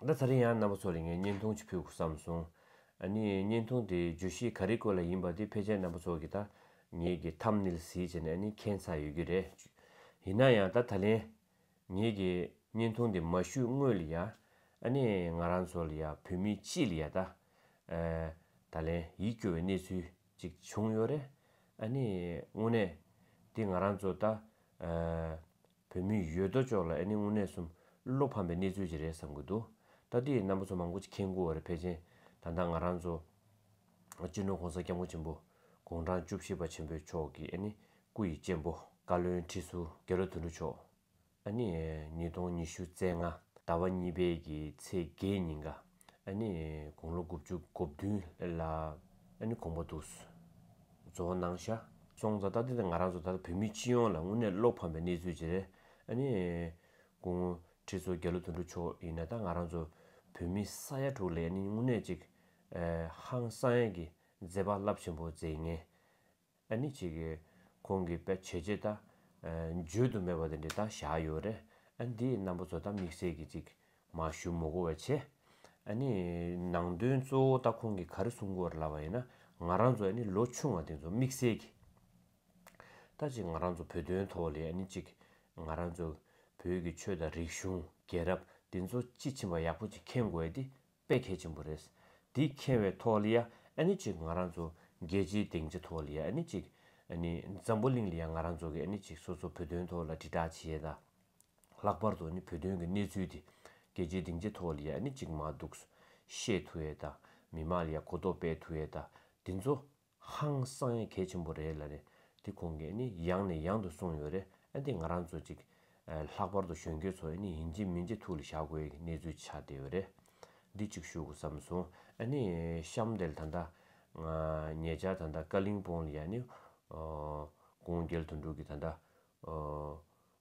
ད་ཚར་རིང་ཡང་གནའ་བོ་ཚོ་རེ་ངས་བརྙན་ཐུང་ཅིག་ཕུལ་དགོས་བསམ་སོང། ཨ་ནི་བརྙན་ཐུང་དེའི་བརྗོད་གཞི་ག་རེ་སྐོར་ལ་ཡིན་པ་དེ་ཕལ་ཆེར་གནའ་བོ་ཚོ་གིས་ད་ངེད་ཀྱི་ཐམ་ནིལ་གཟིགས་བྱས་ནས་ཨ་ནི་མཁྱེན་ཚར་ཡོད་ཀྱི་རེད། ཡིན་ན་ཡང་ད་ད་ལན་ངེད་ཀྱི་བརྙན་ཐུང་དེ་མ་བཞུས་སྔོན་ལ་ཡ། ཨ་ནི་ང་རང་ཚོ་ལ་ཡ་བོད་མི་སྤྱི་ལ་ཡ་ད། ད་ལན་ཡིད་སྐྱོ་བའི་གནས་ཚུལ་ཅིག་བྱུང་ཡོད་རེད། ཨ་ནི་དངོས་གནས་དེ་ང་རང་ཚོ་ད། བོད་མི་ཡོད་དོ་ཅོག་ལ་ཨེ་ནི་དངོས་གནས་གསུམ་བློ་ཕམ་པའི་གནས་ཚུལ་ཅིག་རེད་བསམ་དགོས་འདུག་སྟབས་བདེའི་རྣམ་པ་ཚོ་མང་པོ་ཅིག་ཁྱེད་མགུ་བ་རེད་ཕལ་ཆེན་ད་ལྟ་ང་རང་ཚོ། སྤྱི་ནོར་གོང་ས་སྐྱབས་མགོན་ཆེན་པོ། དགུང་གྲངས་བཅུ་བཞི་པ་ཆེན་པོའི་མཆོག་གི་ཨེ་ནི་སྐུ་ཡི་གཅེན་པོ། བཀའ་བློན་ཁྲི་ཟུར་རྒྱལ་ལོ་དོན་གྲུབ་མཆོག་ཨེ་ནི། ཉིས་སྟོང་ཉི་ཤུ་ཚེས་ལྔ་ཟླ་བ་གཉིས་པའི་གི་ཚེས་བརྒྱད་ཉིན་ག་ནི། དགུང་ལོ་དགུ་བཅུ་གོ་བདུན་ལ། ནི་གོང་པ་འདུག། ཛོ་ན་ནང་ཤ། སོང་ཙང་ད་ལྟ་ང་རང་ཚོ་ད་ལྟ་བོད་མི་སྤྱི་ཡོངས་ལ་དངོས་གནས་བློ་ཕམ་པའི་གནས་ཚུལ་དེ་རེད། ནི། སྐུ་ངོ། ཁྲི་ཟུར་རྒྱ་ལོ་དོན་གྲུབ་མཆོག་ཡིན་ན་ད་ང་རང་ཚོ། བོད་མི་ས་ཡ་དྲུག་ལས་ནི་དངོས་གནས་ཅིག། ཧང་སངས་ཀྱི་མཛད་པ་རླབས་ཆེན་པོ་མཛད་ངེས། ཨ་ནི་ཅིག། ཁོང་གིས་དཔེ་བྱེད་ཅེས་ད། བརྗོད་དུ་མེད་པ་དེ་འདྲའི་ད་བཞག་ཡོད་རེད། ཨ་ནི་དེའི་རྣམ་པ་ཚོ་ད་དམིགས་བསལ་གྱིས་ཅིག། མ་ཞུ་མོ་གོ་བས་ཆེ། ཨ་ནི། ནང་དོན་གཙོ་བོ་ད་ཁོང་གིས་ག་རེ་གསུང་དགོས་ར་ལབ་པ་ཡིན་ན། ང་རང་ཚོ་ཨ་ནི་ལོ་ཆུང་བ་དེ་ཚོ་དམིགས་བསལ་གྱིས། ད་ཅིག་ང་རང་ཚོ་བོད་དོན་ཐོག་ལས་ཨ་ནི་ཅིག། ང་རང་ཚོ། བོད་ཀྱི་ཆོས་དང་རིག་གཞུང། རྒྱལ་རབས། དེ་ཚོ་དཔྱིས་ཕྱིན་པ་ཡག་པོ་ཅིག་མཁྱེན་དགོས་ཏེ། དཔེ་གལ་ཆེན་པོ་རེད། དེ་མཁྱེན་བའི་ཐོག་ལ་ཡ་ནི་གཅིག་ང་རང་ཚོ་རྒྱལ་སྤྱིའི་སྡིངས་ཆ་ཐོག་ལ་ཡ་ནི་གཅིག། འཛམ་བུ་གླིང་ལ་ཡ་ང་རང་ཚོ་གི་ཡ་ནི་གཅིག་སོ་སོ་བོད་དོན་ཐོག་ལ་དྲིལ་བསྒྲགས་བྱས་ན། ལྷག་པར་དུ་ནི་བོད་དོན་གི་གནས་ཚུལ་དེ་རྒྱལ་སྤྱིའི་སྡིངས་ཆ་ཐོག་ལ་ཡ་ནི་གཅིག་མ་འདུག་ཤེས་ཐུ་ཡ་དང་མི་མང་ལ་ཡ་གོ་རྟོགས་སྤེལ་ཐུ་ཡ་དང་དེ་ཚོ་ཧང་སང་ཡ་གལ་ཆེན་པོ་རེད་ལ་རེད་དེ་གོང་གི་ནི་ཡང་ནས་ཡང་དུ་གསུངས་ཡོད་རེད་ཨ་འདི་ང་རང་ཚོ་ཅིག་ལྷག་པར་དུ་གཞོན་སྐྱེས་ཚོ་ནི་ཡིན་གཅིག་མིན་གཅིག་ཐུགས་ལ་བཞག་དགོས་ཡི་གི་གནས་ཚུལ་ཆགས་བསྡད་ཡོད་རེད་འདི་གཅིག་ཞུ་དགོས་བསམ་སོང་ཨ་ནི་གཤམ་དེ་ལ་ད་ལྟ་ངའི་ཉེ་ཆར་ད་ལྟ་ཀ་གླིང་སྤུངས་ལ་ཡ་ནི་དགུང་རྒྱལ་དོན་གྲུབ་ཀྱི་ད་ལྟ་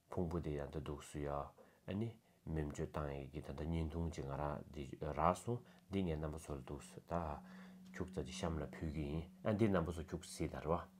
ཕུང་པོ་དེ་ཡང་དུ་འདུག་སུ་ཡ། ཨ་ནི། མི་མཆོད་བཏང་ཡས་ཀྱི་ད་ད་བརྙན་ཐུང་གཅིག་ང་རང་འདི་རག་སོང་འདི་ངའི་རྣམ་པ་ཚོ་ལ་འདུག་སུ་ད། ཁྱུག་ཙག་ཅིག་གཤམ་ལ་ཕུལ་གྱི་ཡིན་ཨ་འདིར་རྣམ་པ་ཚོ་ཁྱུག་སིད་ད་རེད་བ།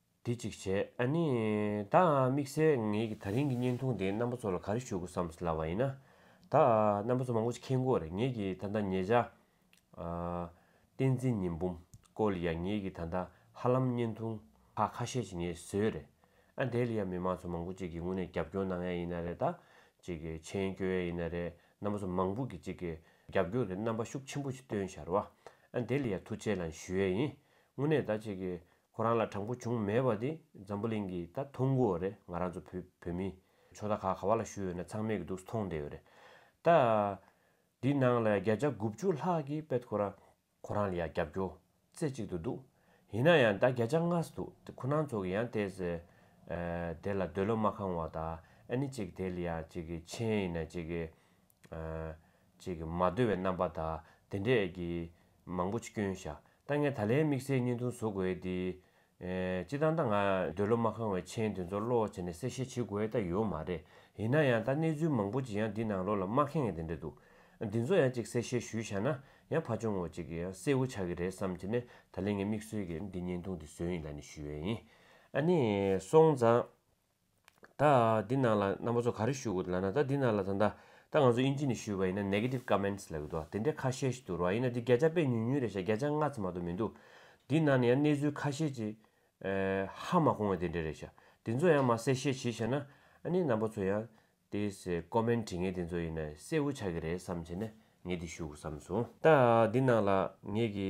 དེ་གཅིག་བྱས། ཨ་ནི། ད་ཨ་དམིགས་བསལ་ངེད་ཀྱི་ད་རིང་གི་བརྙན་ཐུང་དེ་རྣམ་པ་ཚོ་ལ་ག་རེ་ཞུ་དགོས་བསམ་སླ་བ་ཡིན་ན། ད་ཨ་རྣམ་པ་ཚོ་མང་པོ་ཅིག་མཁྱེན་དགོས་རེད་ངེད་ཀྱི་ད་ལྟ་ཉེ་བྱ། བསྟན་འཛིན་ཉི་འབུམ་སྐོར་ལ་ཡང་ངེད་ཀྱི་ད་ལྟ་ཧ་ལམ་བརྙན་ཐུང་ཁག་ཁ་ཤས་ཅིག་ངེད་བཟོས་རེད། ཨ་དེ་ལ་ཡང་མི་མང་ཚོ་མང་པོ་ཅིག་གིས་དངོས་གནས་རྒྱབ་སྐྱོར་གནང་ཡ་ཡིན་ན་རེད་ད། ཅིག་མཆན་བསྐྱོད་ཡ་ཡིན་ན་རེད་རྣམ་པ་ཚོ་མང་པོ་གིས་ཅིག་རྒྱབ་སྐྱོར་གི་རྣམ་པ་ཤུགས་ཆེན་པོ་ཅིག་སྟོན་ཤར་བ། ཨ་དེ་ལ་ཡང་ཐུགས་རྗེ་ལན་ཞུ་ཡ་ཡིན། དངོས་གནས་ད་ཅིག་ཁོ་རང་ལ་དྲང་པོ་བྱུང་མེད་པ་དེ་འཛམ་བུ་གླིང་གིས་ད་མཐོང་གོ་རེད་ང་རང་ཚོ་བོད་བོད་མི་ཆོ་ད་ག་ག་བ་ལ་ཞུ་ཡོད་ན་ཚང་མས་གི་འདུག་མཐོང་བསྡད་ཡོད་རེད་ད། འདི་ནང་ལ་བརྒྱ་ཆ་དགུ་བཅུ་ལྷག་གི་དཔེད་ཁོ་རང། ཁོ་རང་ལ་ཡང་རྒྱབ་སྐྱོ་རྩེ་གཅིག་ཏུ་འདུག་ཡིན་ན་ཡང་ད་བརྒྱ་ཆ་ལྔ་ཟི་འདུག་དེ་ཁོ་ནང་ཚོ་གི་ཡང་དེ་ཟེར་དེ་ལ་འདོད་བློ་མ་ཁང་བ་ད་ཨ་ནི་ཅིག་དེ་ལ་ཡང་ཅིག་གི་མཆན་ཡིན་ན་ཅིག་གི་ཅེས་ཀྱི་མ་བརྡོལ་བའི་རྣམ་པ་དག་དེ་འདྲས་ཀྱི། མང་པོ་ཅིག་སྐྱོན་བཞག་ད་ངས་ད་ལན་དམིགས་བསལ་བརྙན་ཐུང་བཟོ་དགོས་ཨེ་འདི། སྤྱི་བཏང་ད་ང་འདོད་བློ་མ་ཁང་བའི་མཆན་དེ་ཚོ་བློ་བ་བྱས་ནས་གསལ་བཤད་བྱེད་དགོས་ད་ཡོད་མ་རེད་ཡིན་ན་ཡང་ད་གནས་ཚུལ་མང་པོ་ཅིག་ཡང་འདི་ནང་ལོགས་ལ་མ་ཁེངས་དེ་འདྲས་འདུག་འདི་ཚོ་ཡང་ཅིག་གསལ་བཤད་ཞུས་བཞག་ན་ཡང་ཕ་ཆུང་ངོ་ཅིག་གིས་ཡང་གསལ་བོ་ཆགས་ཀྱི་རེད་བསམ་བྱས་ནས་ད་ལན་ངས་དམིགས་བསལ་གྱིས་འདི་བརྙན་ཐུང་འདི་བཟོས་ཡིན་ལ་ནི་ཞུས་ཡིན་ཨ་ནི་སོང་ཙང། ད་འདི་ནང་ལ་རྣམ་པ་ཚོ་ག་རེ་ཞུ་དགོས་འདུག་ལ་ན་ད་འདི་ནང་ལ་ད་ད་ད་ང་ཚོ་དབྱིན་ཇི་ནས་ཞུས་པ་ཡིན་ན Negative Comments ལབ་ཡོད་འདུག་དེ་འདྲ་ཁ་ཤས་ཤིག་འདུག་རོགས་ཡིན་ན་འདི་བརྒྱ་ཆ་དཔེ་ཉུང་ཉུང་རེད་བཤད་བརྒྱ་ཆ་ལྔ་ཙམ་མ་གཏོགས་མི་འདུག་འདི་ནང་ནས་ཡང་གནས་ཚུལ་ཁ་ཤས་ཅིག་ཧ་མ་གོ་ངེས་དེ་འདྲ་རེད་བཤད་དེ་ཚོ་ཡང་མ་གསལ་བཤད་བྱེད་བྱས་ན་ཨ་ནི་རྣམ་པ་ཚོ་ཡང་དེ་སེ Comment བྲིས་ངེས་དེ་ཚོ་ཡིན་ན་གསལ་བོ་ཆགས་ཀྱི་རེད་བསམ་བྱས་ན་ངས་འདི་ཞུ་དགོས་བསམ་སོང། ད་འདི་ནང་ལ་ངེད་ཀྱི་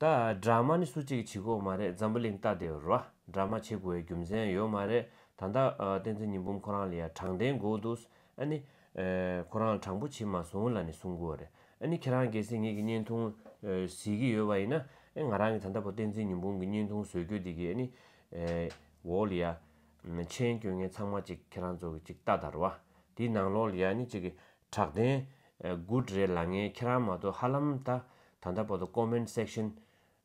ད་སྦྲགས་མ་ནི་སུ་གཅིག་གིས་བྱེད་དགོས་མ་རེད་འཛམ་བུ་གླིང་སྟག་དེ་རུ་སྦྲགས་མ་བྱེད་དགོས་བའི་རྒྱུ་མཚན་ཡོད་མ་རེད་ད་ལྟ་བསྟན་འཛིན་ཉི་འབུམ་ཁོ་རང་ལ་ཡ་དྲང་བདེན་དགོས་འདུག་ཨ་ནི། ཁོ་རང་དྲང་པོ་བྱེད་མ་སོང་ལ་ནི་གསུང་དགོས་རེད་ཨ་ནི་ཁྱེད་རང་གེ་སེ་ངེད་ཀྱི་བརྙན་ཐུང་གཟིགས་ཀྱི་ཡོད་པ་ཡིན་ན་ཨེ་ང་རང་གིས་ད་ལྟ་བོ་བསྟན་འཛིན་ཉི་འབུམ་གྱི་བརྙན་ཐུང་བཟོས་དགོས་དེ་གི་ཨེ་ནི། འོ་ལ་ཡ། མཆན་སྐྱོན་ངན་ཚང་མ་གཅིག་ཁྱེད་རང་ཚོ་གི་གཅིག་ལྟ་ད་རུ་བ་དེའི་ནང་ལོགས་ལ་ཡ་ནི་གཅིག་གི་དྲག་བདེན། Good རེད་ལ་ངས་ཁྱེད་རང་མ་གཏོགས་ཧ་ལམ་ད་ད་ལྟ་བར་དུ Comment Section།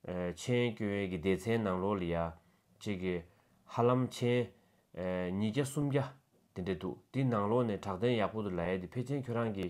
མཆན་བསྐྱོན་ཡས་ཀྱི་སྡེ་ཚན་ནང་ལོག་ལི་ཡ། ཅིག་གི། ཧ་ལམ་མཆན། ཉིས་བརྒྱ་སུམ་བརྒྱ། དེ་འདྲ་འདུག་དེའི་ནང་ལོག་ནས་དྲག་བདེན་ཡག་པོ་འདུག་ལ་ཡས་དེ་ཕེ་ཆེན་ཁྱོད་རང་གི།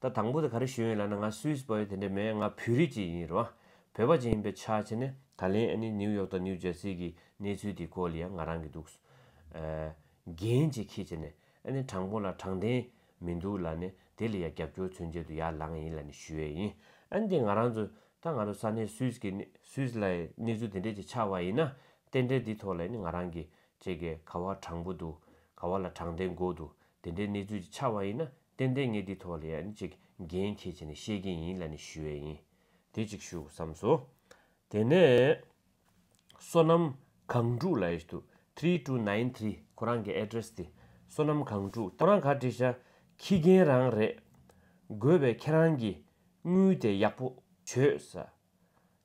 ད་དང་པོ་དེ་ག་རེ་ཞུས་ཡིན་ལབ་ན་ང Swiss པ་ཡིན་དེ་འདྲ་མེད་ང་བོད་རིགས་ཅིག་ཡིན་རེད་བ། བོད་པ་ཅིག་ཡིན་པའི་ཆ་ཆེ་ནི་ད་ལན་ཨ་ནི New York དང New Jersey གི་གནས་ཚུལ་དེ་སྐོར་ལ་ཡང་ང་རང་གི་འདུག་རྒན་ཅིག་ཁྱེད་ཀྱི་ནི་ཨ་ནི་དྲང་པོ་ལ་དྲང་བདེན་མི་འདུག་ལ་ནི་དེ་ལ་ཡ་རྒྱབ་སྐྱོར་མཚོན་བྱེད་དུ་ཡ་ལངས་ཡིན་ལ་ནི་ཞུས་ཡས་ཡིན་ཨ་ནི་དེ་ང་རང་ཚོ་ད་ང་རོ་ས་གནས Swiss གི་གནས Swiss ལ་ཡི་གནས་ཚུལ་དེ་འདྲས་ཅིག་ཆགས་བ་ཡིན་ན་རྟེན་འབྲེལ་དེ་ཐོག་ལ་ཡ་ནི་ང་རང་གི་ཅེ་གེ་ག་བ་དྲང་པོ་འདུག་ག་བ་ལ་དྲང་བདེན་དགོས་འདུག་དེ་འདྲའི་གནས་ཚུལ་གྱི་ཆ་བ་ཡིན་ན་ཏན་ཏན་ངས་འདིའི་ཐོག་ལ་ཡང་ཅིག་འགན་འཁྱེར་བྱས་ནས་བཤད་ཀྱིན་ཡིན་ལ་ནི་ཞུ་བས་ཡིན། དེ་ཅིག་ཞུ་བསམས་སོ། དེ་ནས། བསོད་ནམས་གངས་ཕྲུག་ལ་ཨེས་ཐུ three two nine three ཁོ་རང་གི address དེ། བསོད་ནམས་གངས་ཕྲུག་ཁྱེད་རང་ག་བྲིས་ཤ་ཁྱི་རྒན་རང་རེད། དགོས་པའི་ཁྱེད་རང་གི་དངུལ་དེ་ཡག་པོ་བྱོས་ས།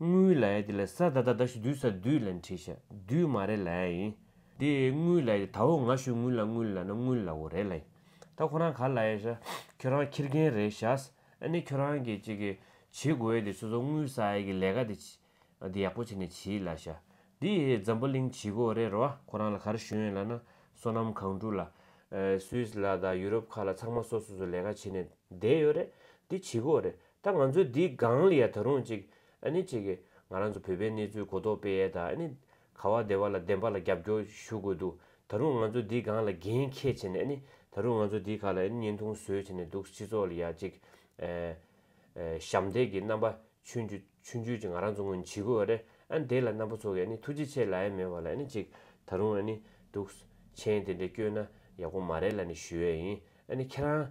དངུལ་ལ་ཡ་དེ་ལ་ས་ད་ད་ད་ཞུ་དུས་ས་དུས་ལ་འཁྲི་ཤ་དུས་མ་རེ་ལ་ཡ་ཡིན། དེ་དངུལ་ལ་ཡ་དེ་ད་འོ་ང་ཞུ་དངུལ་ལ་དངུལ་ལ་ན་དངུལ་ལ་འོ་རེ་ལ་ཡིན། ད་ཁོ་རང་ག་ལ་ཡ་ཤ་ཁྱོད་རང་འཁྱེར་མཁན་རེད་ཤགས་ཨ་ནི་ཁྱོད་རང་གི་ཅིག་གི་བྱེད་དགོས་ཡ་དེ་སོ་སོ་དངུལ་ས་ཡ་གི་ལས་ཀ་དེ་དེ་ཡག་པོ་བྱེད་ནས་བྱིས་ལ་ཤ་དེ་འཛམ་བུ་གླིང་བྱིས་གོ་རེ་རོ་ཨ་ཁོ་རང་ལ་གར་ཞོན་ཡ་ལ་ན་སོ་ནམ་གང་དྲུག་ལ Swiss ལ་དང Europe ཁག་ལ་ཚང་མ་སོ་སོ་སོ་ལས་ཀ་བྱེད་ནས་བསྡད་ཡོད་རེད་དེ་བྱིས་གོ་རེ་ད་ང་ཚོའི་འདི་སྒང་ལ་ཡ་ད་རུང་ཅིག་ཨ་ནི་ཅིག་གི་ང་རང་ཚོ་བོད་པའི་གནས་ཚུལ་གོ་རྟོགས་སྤེལ་ཡས་དང་ཨ་ནི་ག་བ་བདེ་བ་ལ་བདེན་པ་ལ་རྒྱབ་སྐྱོར་ཞུ་དགོས་འདུག་ད་རུང་ང་ཚོ་འདི་སྒང་ལ་འགན་ཁྱད་བྱེད་ནས་ཨ་ནི་ད་རུང་ང་ཚོ་འདི་ག་ལ་ཨ་ནི་བརྙན་ཐུང་བཟོས་བྱས་ནས་འདུག་སྤྱི་ཚོགས་ལ་ཡ་ཅིག་ཞབས་འདེགས་ཀྱི་རྣམ་པ་ཆུན་ཆུ་ཆུན་ཆུན་ཅིག་ང་རང་ཚོ་ངོས་ནས་བྱེད་དགོས་བ་རེད་ཨ་ནི་དེ་ལ་རྣམ་པ་ཚོ་གིས་ཨ་ནི་ཐུགས་རྗེ་ཆེ་ལ་ཡ་མེད་བ་ལ་ཨ་ནི་ཅིག་ད་རུང་ཨ་ནི་འདུག་མཆན་དེ་འདྲ་བསྐྱོན་ན་ཡག་པོ་མ་རེད་ལ་ནི་ཞུ་ཡས་ཡིན་ཨ་ནི་ཁྱེད་རང་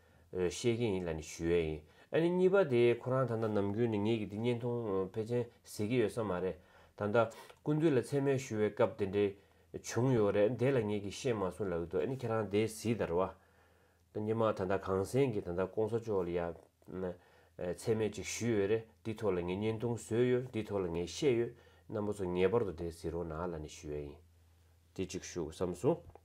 བཤད་ཀྱིན་ཡིན་ལ་ནི་ཞུ་ཡས་ཡིན། ཨ་ནི་གཉིས་པ་དེ་ཁོ་རང་ད་ལྟ་ནམ་རྒྱུན་ནི་ངེད་ཀྱི་འདི་བརྙན་ཐུང་ཕལ་ཆེན་གཟིགས་ཀྱི་ཡོད་ས་མ་རེད། ད་ལྟ་ཀུན་འདུས་ལ་མཚན་སྨད་ཞུ་བའི་སྐབས་དེ་འདྲའི་བྱུང་ཡོད་རེད་དེ་ལ་ངེད་ཀྱིས་ཤེས་མ་སོང་ལབ་ཡི་འདུག་ཨ་ནི་ཁྱེད་རང་དེ་གཟིགས་དར་བ། ད་ཉི་མ་ད་ལྟ་གངས་སེང་གིས་ད་ལྟ་ཀོང་ས་ཅོག་ལ་ཡང་མཚན་སྨད་ཅིག་ཞུས་ཡོད་རེད་འདི་ཐོག་ལ་ངས་བརྙན་ཐུང་བཟོས་ཡོད་འདི་ཐོག་ལ་ངས་བཤད་ཡོད་རྣམ་པ་ཚོ་ངེས་པར་དུ་དེ་གཟིགས་རོགས་གནང་ཨ་ལ་ནི་ཞུ་ཡས་ཡིན། དེ་ཅིག་ཞུ་བསམ་སོང།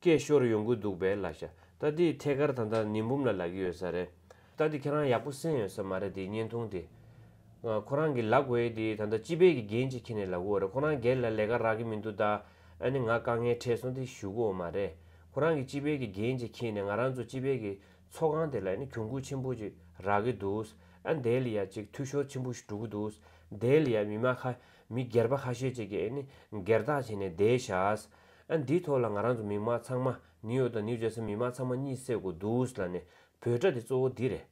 སྐད་ཤོར་ཡོང་གི་འདུག་པས་ལ་ཤ་ཏཱ་དེའི་ཐད་ཀར་ད་ལྟ་ནི་འབུམ་ལ་ལག་གི་ཡོད་ས་རེད། ད་དེ་ཁྱེད་རང་ཡག་པོ་སེམས་ཡོད་ས་མ་རེད་དེའི་བརྙན་ཐུང་དེ། ཁོ་རང་གི་ལག་འོས་དེ་ད་ལྟ་སྤྱི་པའི་གི་འགན་ཅིག་ཁྱེར་ནས་ལག་གི་འོ་རེད་ཁོ་རང་སྒེར་ལ་ལས་ཀ་རག་གི་མི་འདུག་ད་ཨ་ནི་ང་དཀའ་ངལ་འཕྲད་སོང་དེ་ཞུ་གི་འོ་མ་རེད། ཁོ་རང་གི་སྤྱི་པའི་གི་འགན་ཅིག་ཁྱེར་ནས་ང་རང་ཚོ་སྤྱི་པའི་གི་ཚོགས་ཁང་དེ་ལ་ཨ་ནི་གྱོང་གུད་ཆེན་པོ་ཅིག་རག་གི་འདུག་ཨ་དེ་ལ་ཡ་ཅིག་འཐུས་ཤོར་ཆེན་པོ་ཞིག་འགྲོ་གི་འདུག་དེ་ལ་ཡ་མི་མ་ཁ་མི་སྒེར་པ་ཁ་ཤས་ཅིག་གིས་ཨ་ནི་སྒེར་བདག་བྱས་ནས་བསྡད་བཞག། ཨ་འདིའི་ཐོག་ལ་ང་རང་ཚོ་མིག་དམར་ཚང་མ་ནིའུ་ཡོག་དང་ནིའུ་ཇར་སི་མིག་དམར་ཚང་མ་གཉིད་བསད་གོ་འདུག་ལ་ནི་བོད་སྒྲ་དེ་གཙོ་བོ་འདི་རེད་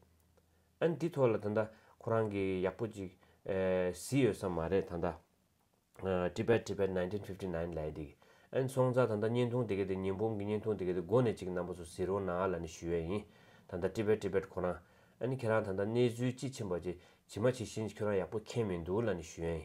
ཨ་འདི་ཐོག་ལ་ད་ལྟ་ཁོ་རང་གི་ཡག་པོ་ཅིག་བཟི་ཡོད་ས་མ་རེད་ད་ལྟ Tibet Tibet nineteen fifty nine ལས་འདི་གི་ཨ་སོང་ཙང་ད་ལྟ་བརྙན་ཐུང་དེ་གའི་དེ་ཉིན་བོང་གི་བརྙན་ཐུང་དེ་གའི་དེ་མགོ་ནས་ཅིག་རྣམ་པ་ཚོ་བཟི་རོགས་གནང་ལ་ནི་ཞུ་ཡས་ཡིན་ད་ལྟ Tibet Tibet ཁོ་རང་ཨ་ནི་ཁྱེད་རང་ད་ལྟ་གནས་ཚུལ་ཅི་ཕྱིན་པ་ཅིག་ཇི་མ་ཇི་བཞིན་ཅིག་ཁྱོད་རང་ཡག་པོ་མཁྱེན་མི་འདུག་ལ་ནི་ཞུ་ཡས་ཡིན།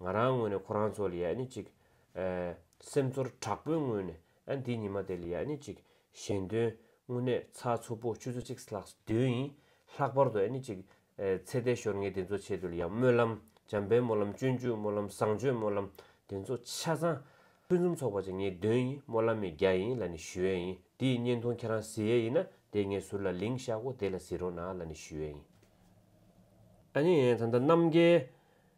ང་རང་ངོས་ནས་ཁོ་རང་ཚོ་ལ་ཡ་ནི་ཅིག། སེམས་ཚོར་དྲག་པོའི་ངོས་ནས་འདི་ཉི་མ་དེ་ལ་ཡ་ནི་ཅིག་གཞན་དོན་དངོས་གནས་ཚ་ཚུར་པོ་ཆུ་ཚོད་གཅིག་ལྷག་བདུན་ཡིན་ལྷག་པར་དུ་ཡ་ནི་ཅིག། ཚེ་འདས་ཞོར་ངའི་འདི་ཚོ་ཆེད་དུ་ལ་ཡང་སྨོན་ལམ་འཇམ་པའི་སྨོན་ལམ་སྤྱོད་འཇུག་སྨོན་ལམ་བཟང་སྤྱོད་སྨོན་ལམ་དེ་ཚོ་ཆ་ཚང། ཕུན་སུམ་ཚོགས་པ་ཅན་ངའི་དོན་ཡིན་སྨོན་ལམ་མའི་རྒྱ་ཡིན་ལ་ནི་ཞུ་ཡས་ཡིན་དེ་ཡི་བརྙན་ཐུང་ཁྱེད་རང་གཟིགས་ཡས་ཡིན་ན་དེ་ངའི་ཟུར་ལ་ལིང་ཤག་གོ་དེ་ལ་གཟིགས་རོགས་གནང་ལ་ནི་ཞུ་ཡས་ཡིན། ཨ་ནི་ད་ལྟ་རྣམ་རྒྱལ་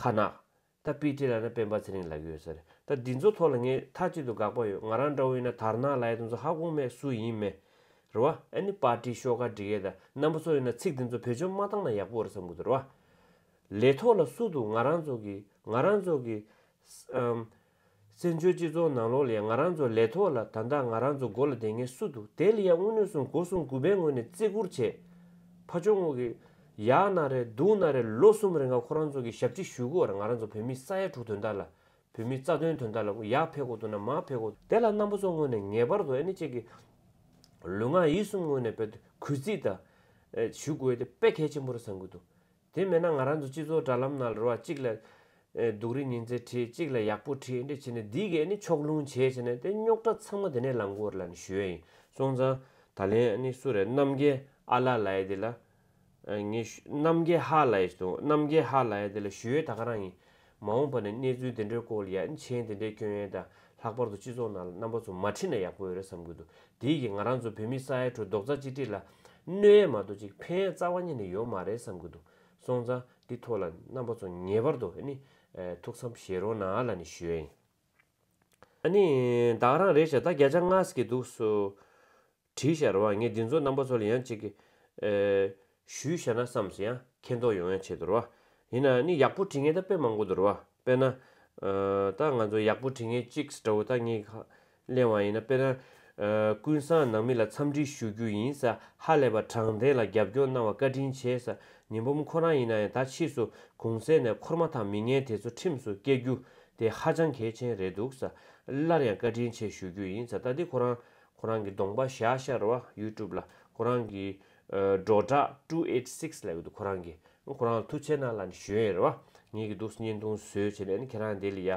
ཁ་ནག། ད་པི་ཏི་ལ་ན་སྤེན་པ་ཚེ་རིང་ལགས་ཡོད་ཟེར། ད་འདི་ཚོ་ཐོག་ལ་ངས་མཐའ་གཅིག་ཏུ་དགག་པ་ཡོད་ང་རང་འདྲ་བོ་ཡིན་ན་དར་ནག་ལ་ཡེ་དོན་ཚོ་ཧ་གོ་མེད་སུ་ཡིན་མེད། རེད་བ། ཨ་ནི་པར་ཏི་ཤོག་ཁག་འབྲི་མཁན་དང་རྣམ་པ་ཚོ་ཡིན་ན་ཚིག་འདི་ཚོ་བེད་སྤྱོད་མ་བཏང་ན་ཡག་པོ་རེད་བསམ་གི་འདུག་རེད་བ། ལས་ཐོག་ལ་སུ་འདུག་ང་རང་ཚོ་གིས་ང་རང་ཚོ་གིས། བཙན་བྱོལ་སྤྱི་ཚོགས་ནང་ལོ་ལེགས་ང་རང་ཚོ་ལས་ཐོག་ལ་ད་ལྟ་ང་རང་ཚོ་མགོ་ལ་བསྡད་ངེས་སུ་འདུག་དེ་ལ་ཡང་དངུལ་ནུས་སྲུང་མགོ་སྲུང་དགུ་པའི་ངོས་ནས་བརྩི་བཀུར་བྱས། ཕ་ཆོག་ངོ་གི། ཡག་ན་རེ་སྡུག་ན་རེ་ལོ་གསུམ་རེ་འགའ་ཁོ་རང་ཚོ་གི་ཞབས་ཁྲི་ཞུས་གོ་བར་ང་རང་ཚོ་བོད་མི་ས་ཡ་དྲུག་དོན་དག་ལ། བོད་མི་རྩ་དོན་དོན་དག་ལ་ཡག་ཕེབས་གོ་ཐུབ་ན་མ་ཕེབས་གོ། དེ་ལ་རྣམ་པ་ཚོ་ངོས་ནས་ངེས་པར་དུ་ཨེ་ནི་ཅིག་གི། ལུས་ངག་ཡིད་གསུམ་ངོས་ནས་བོད་དོན་གུས་བརྩི་དང། ཞུ་དགོས་དེ་དཔེ་གལ་ཆེན་པོ་རེད་བསམ་གྱི་འདུག་དེ་མེད་ན་ང་རང་ཚོ་སྤྱི་ཚོགས་དྲ་ལམ་ནང་རེ་བ་གཅིག་ལ། སྡུག་རེ་ཉིན་ཚེ་ཁྲིད་གཅིག་ལ་ཡག་པོ་ཁྲིད་འདི་བྱས་ནས་འདི་གས་ནི་ཕྱོགས་ལྷུང་བྱས་བྱས་ནས་དེ་རྙོག་དྲ་ཚང་མ་དེ་ནས་ལངས་དགོས་རེད་ལ་ནི་ཞུས་ཡ་ཡིན་སོང་ཙང། ད་ལན་ནི་སུ་རེད་རྣམ་རྒྱལ་ཨ་ལ་ལ་ཡེ་འདི་ལ། ངས། རྣམ་རྒྱལ་ཧ་ལ་ཡེ་ཟེར་དུང་རྣམ་རྒྱལ་ཧ་ལ་ཡེ་འདི་ལ་ཞུས་ཡོད་ད་ག་རང་ཡིན། མ་འོངས་པ་ནས་གནས་ཚུལ་དེ་འདྲའི་སྐོར་ལ་ཡ་མཆན་དེ་འདྲའི་སྐྱོན་ཡོན་དང་ལྷག་པར་དུ་སྤྱི་ཚོགས་ནང་ལ་རྣམ་པ་ཚོ་མ་ཁྲིད་ན་ཡག་པོ་ཡོད་རེད་བསམ་གྱི་འདུག་དེས་ཀྱི་ང་རང་ཚོ་བོད་མི་ས་ཡའི་ཁྲོད་རྡོག་རྩ་གཅིག་སྒྲིལ་ལ་གནོད་ཡས་མ་གཏོགས་ཅིག་ཕན་ཡས་རྩ་བ་ཉིད་ནས་ཡོད་མ་རེད་བསམ་གྱི་འདུག་སོང་ཙང་འདི་ཐོག་ལ་རྣམ་པ་ཚོ་ངེས་པར་དུ་ནི་ཐུགས་བསམ་བཞེས་རོགས་ན་ལ་ནི་ཞུས། ཨ་ནི། བདག་རང་རེད་བྱ་བདག་བརྒྱ་ཆ་ལྔ་ཟེར་གྱི་འདུག་སུ། བྲིས་བཞག་རོགས་ཨ་ངས་འདི་ཚོ་རྣམ་པ་ཚོ་ལ་ཡང་གཅིག། ཞུས་བཞག་ན་བསམས་སོ་ཡ། མཁྱེན་རྟོགས་ཡོང་ཡང་བྱེད་དུ་རོགས་ཨ། ཡིན་ན་ནི་ཡག་པོ་བྲིས་ངེས་ད་དཔེ་མང་པོ་འདུག་རོགས་ཨ་དཔེ་ན། ད་ང་ཚོ་ཡག་པོ་བྲིས་ངེས་གཅིག་ཟ་འདྲ་བོ་ད་གཉིས་ཁ། གླེང་བ་ཡིན་ན་དཔེ་ན། ཀུན་བཟང་ནང་མི་ལ་འཚམས་འདྲི་ཞུ་རྒྱུ་ཡིན་ས་ཧ་ལས་པ་དྲང་བདེན་ལ་རྒྱབ་སྐྱོར་གནང་བ་བཀའ་དྲིན་ཆེ་ས་ཉི་འབུམ་ཁོ་རང་ཡིན་ན་ཡང་ད་ཕྱིས་སུ་གུང་ཟས་ནས་འཁོར་མ་ཐག་མི་ངན་དེ་ཚོ་ཁྲིམས་སུ་བསྐྱལ་རྒྱུ་དེ་ཧ་ཅང་གལ་ཆེན་རེད་འདུག་ས་སླར་ཡང་བཀའ་དྲིན་ཆེ་ཞུ་རྒྱུ་ཡིན་ས་ད་འདི་ཁོ་རང་ཁོ་རང་གི་གདོང་པ་བཞག་ཤར་བ YouTube ལ་ཁོ་རང་གི་སྒྲོག་དྲག two eight six ལ་ཡོད་འདུག་ཁོ་རང་གི་ཁོ་རང་མཐུ་ཆེ་ན་ལ་ནི་ཞུ་ཡས་རེད་བ་ཉེས་ཀྱི་འདུག་བརྙན་ཐུང་བཟོས་བྱས་ནས་ནི་ཁྱེད་རང་དེ་ལ་ཡ་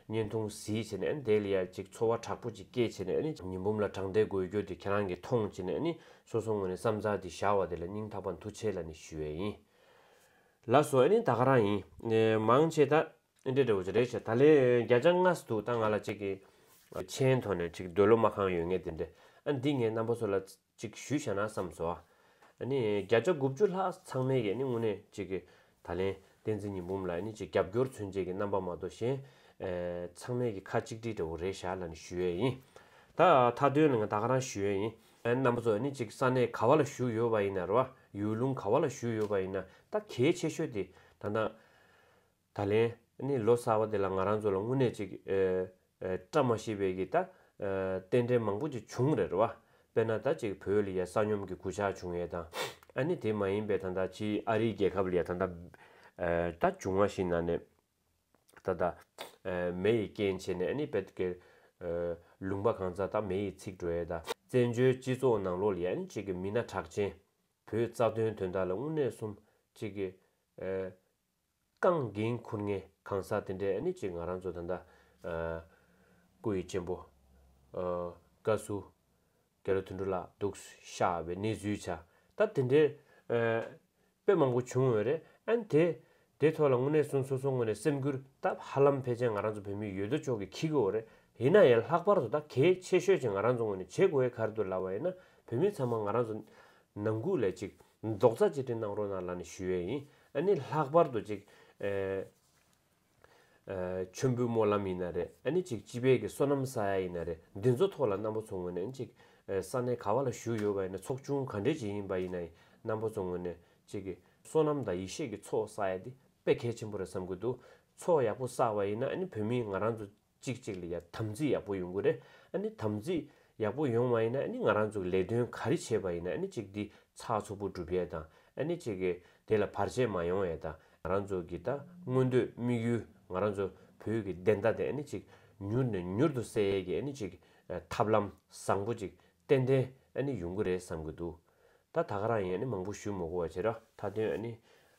བརྙན་ཐུང་བཟིས་བྱས་ནས་ནི་དེ་ལ་ཡ་ཅིག་འཚོ་བ་དྲག་པོ་ཅིག་སྐྱེལ་བྱས་ནས་ནི་ཉི་འབུམ་ལ་དྲང་བདེན་དགོས་རྒྱུ་དེ་ཁྱེད་རང་གི་མཐོང་བྱས་ནས་ནི་སོ་སོ་ངོས་ནས་བསམ་ཚག་དེ་བཞག་བ་དེ་ལ་སྙིང་ཐག་པ་མཐུ་ཆེ་ལ་ནི་ཞུ་ཡས་ཡིན་ལ་སོ་ཨེ་ནི་ད་ག་རང་ཡིན་མང་བྱས་ད། ཨེ་འདྲས་འདྲ་བོ་ཅི་རེད་བྱས་ད་ལེ་རྒྱ་ཅག་ངྷ་སི་འདུག་ད་ང་ལ་ཅིག་གི། མཆན་ཐོག་ནས་ཅིག་འདོད་ལོ་མ་གང་ཡོད་ངས་དེ་འདྲས་ཨ་འདི་ངའི་རྣམ་པ་ཚོ་ལ་ཅིག་ཞུས་བྱས་ན་བསམས་སོ། ཨནི་རྒྱ་ཅག་དགུ་བཅུ་ལྷག་ཚང་མས་ཀྱི་ནི་དངོས་གནས་ཅིག་གི་ད་ལེན་བསྟན་འཛིན་ཉི་འབུམ་ལ་ཨནི་ཅིག་རྒྱབ་སྐྱོར་མཚོན་བྱེད་ཀྱི་རྣམ་པ་མ་གཏོགས་གཞན། ཚང་མས་ཀྱི་ཁ་གཅིག་སྒྲིལ་འདྲ་བོ་རེད་བྱས་ལ་ནི་ཞུས་ཡས་ཡིན། ད་མཐའ་དོན་ལ་ང་ད་ག་རང་ཞུས་ཡས་ཡིན། རྣམ་པ་ཚོ་ཨནི་ཅིག་ས་གནས་ག་བ་ལ་བཞུགས་ཡོད་བ་ཡིན་ན་ར་བ་ཡུལ་ལུང་ག་བ་ལ་བཞུགས་ཡོད་བ་ཡིན་ན་ད་གལ་ཆེ་ཤོས་དེ་ད་ནང། ད་ལན་ནི་ལོ་གསར་བ་དེ་ལ་ང་རང་ཚོ་ལ་དངོས་གནས་ཅིག་བཀྲ་མ་ཤིས་པའི་གི་ད། རྟེན་འབྲེལ་མང་པོ་ཅིག་བྱུང་རེད་བ། དཔེར་ན་ད་ཅིག་བོད་ལ་ཡ་ས་སྙོམས་གི་གུ་ཆག་བྱུང་ཡས་དང། ཨ་ནི་དེ་མ་ཡིན་པའི་ད་ད་ཕྱིའི་ཨ་རིའི་རྒྱལ་ཁབ་ལ་ཡ་ད་ད། ད་བྱུང་བ་ཞིག་ན་ནས། ད་ད། མེ་ཡི་རྐྱེན་བྱས་ནས་ཨ་ནི་བད་ཀའི། ལུང་པ་གང་ཚ་ད་མེ་ཡི་ཚིག་འགྲོ་ཡས་ད། བཙན་བྱོལ་སྤྱི་ཚོགས་ནང་ལོ་ལ་ཡ་ནི་ཅིག་གི་མི་སྣ་གྲགས་ཅན། བོད་རྩ་དོན་དོན་དག་ལ་དངོས་གནས་གསུམ་ཅིག་གི། རྐང་འགེང་འཁུར་ངེས་གང་ཟག་དེ་འདྲས་ནི་ཅིག་ང་རང་ཚོ་ད་ལྟ། སྐུ་ཡི་གཅེན་པོ། བཀའ་ཟུར། རྒྱ་ལོ་དོན་གྲུབ་ལགས་འདུག་ཤག་བའི་གནས་ཚུལ་ཆ་ད་དེ་འདྲས། དཔེ་མང་པོ་བྱུང་འོས་རེད་ཨན། དེ་དེ་ཐོག་ལ་དངོས་གནས་གསུང་སོ་སོ་ངོས་ནས་སེམས་འགུལ་ད་ཧ་ལམ་ཕལ་ཆེར་ང་རང་ཚོ་བོད་མི་ཡོད་དོ་ཅོག་གིས་ཁྱི་གི་འོ་རེད་ཡིན་ན་ཡང་ལྷག་པར་དུ་ད་གལ་ཆེ་ཤོས་ཅིག་ང་རང་ཚོ་ངོས་ནས་བྱེད་དགོས་ཡས་གར་དུ་ལ་བ་ཡིན་ན་བོད་མི་ཚང་མ་ང་རང་ཚོ། ནང་ཁུག་ལས་ཅིག་རྫོགས་རྩ་གཅིག་སྒྲིལ་གནང་རོགས་གནང་ལ་ནི་ཞུ་ཡས་ཡིན་ཨ་ནི་ལྷག་པར་དུ་ཅིག་མཆོད་འབུལ་སྨོན་ལམ་ཡིན་ན་རེ་ཨ་ནི་ཅིག་སྤྱི་དཔལ་གྱི་བསོད་ནམས་བསགས་ཡས་ཡིན་ན་རེ་འདི་ཚོ་ཐོག་ལ་རྣམ་པ་ཚོ་ངོས་ནས་ནི་ཅིག་ས་གནས་ག་བ་ལ་བཞུགས་ཡོད་པ་ཡིན་ན་ཚོགས་ཆུང་ག་འདྲའི་ཅིག་ཡིན་པ་ཡིན་ན་ཡིན་རྣམ་པ་ཚོ་ངོས་ནས་ཅིག་བསོད་ནམས་དང་ཡེ་ཤེས་ཀྱི་ཚོགས་བསགས་ཡས་འདི་དཔེ་གལ་ཆེན་པོ་རེད་བསམ་གྱི་འདུག་ཚོགས་ཡག་པོ་བསགས་པ་ཡིན་ན་ཨ་ནི་བོད་མིའི་ང་རང་ཚོ། གཅིག་གཅིག་ལ་ཡང་དམ་ཚིག་ཡག་པོ་ཡོང་གི་རེད་ཨ་ནི་དམ་ཚིག་ཡག་པོ་ཡོང་བ་ཡིན་ན་ཨ་ནི་ང་རང་ཚོ་གི་ལས་དོན་ག་རེ་བྱས་པ་ཡིན་ན་ཨ་ནི་གཅིག་འདི་ཚགས་ཚུགས་པོ་སྒྲུབ་ཡས་དང་ཨ་ནི་གཅིག་གི་དེ་ལ་བར་ཆད་མ་ཡོང་ཡས་དང་ང་རང་ཚོ་གི་ད་མངོན་འདོད་དམིགས་ཡུལ་ང་རང་ཚོ་བོད་ཀྱི་བདེན་མཐའ་དེ་ཨ་ནི་གཅིག་མྱུར་ནས་མྱུར་དུ་གསལ་ཡས་ཀྱི་ཨ་ནི་གཅིག་ཐབས་ལམ་བཟང་པོ་གཅིག་ཏན་ཏན་ཨ་ནི་ཡོང་གི་རེད་བསམ་གི་འདུག་ད་ད་ག་རང་ཡིན་ཨ་ནི་མང་པོ་ཞུས་མོ་གོ་བ་བྱས་ར་མཐའ་དོན་ཨ་ནི།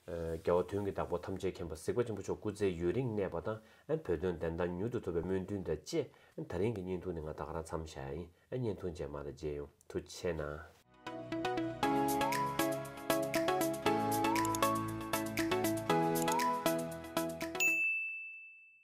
རྒྱལ་བ་དོན་གྱི་བདག་པོ་ཐམས་ཅད་མཁྱེན་པ་གཟིགས་པ་ཆེན་པོ་མཆོག་སྐུ་ཚེ་ཡུན་རིང་གནས་པ་དང་ཨ་བོད་དོན་བདེན་མཐའ་མྱུར་དུ་ཐོབ་པའི་སྨོན་འདུན་དང་བཅས་ཨ་ད་རིང་གི་བརྙན་ཐུང་ནི་ང་ད་ག་རང་འཚམས་བཞག་ཨ་ཡིན་ཨ་བརྙན་ཐུང་རྗེས་མ་ད་མཇལ་ཡོང་ཐུ་ཆེ་ན།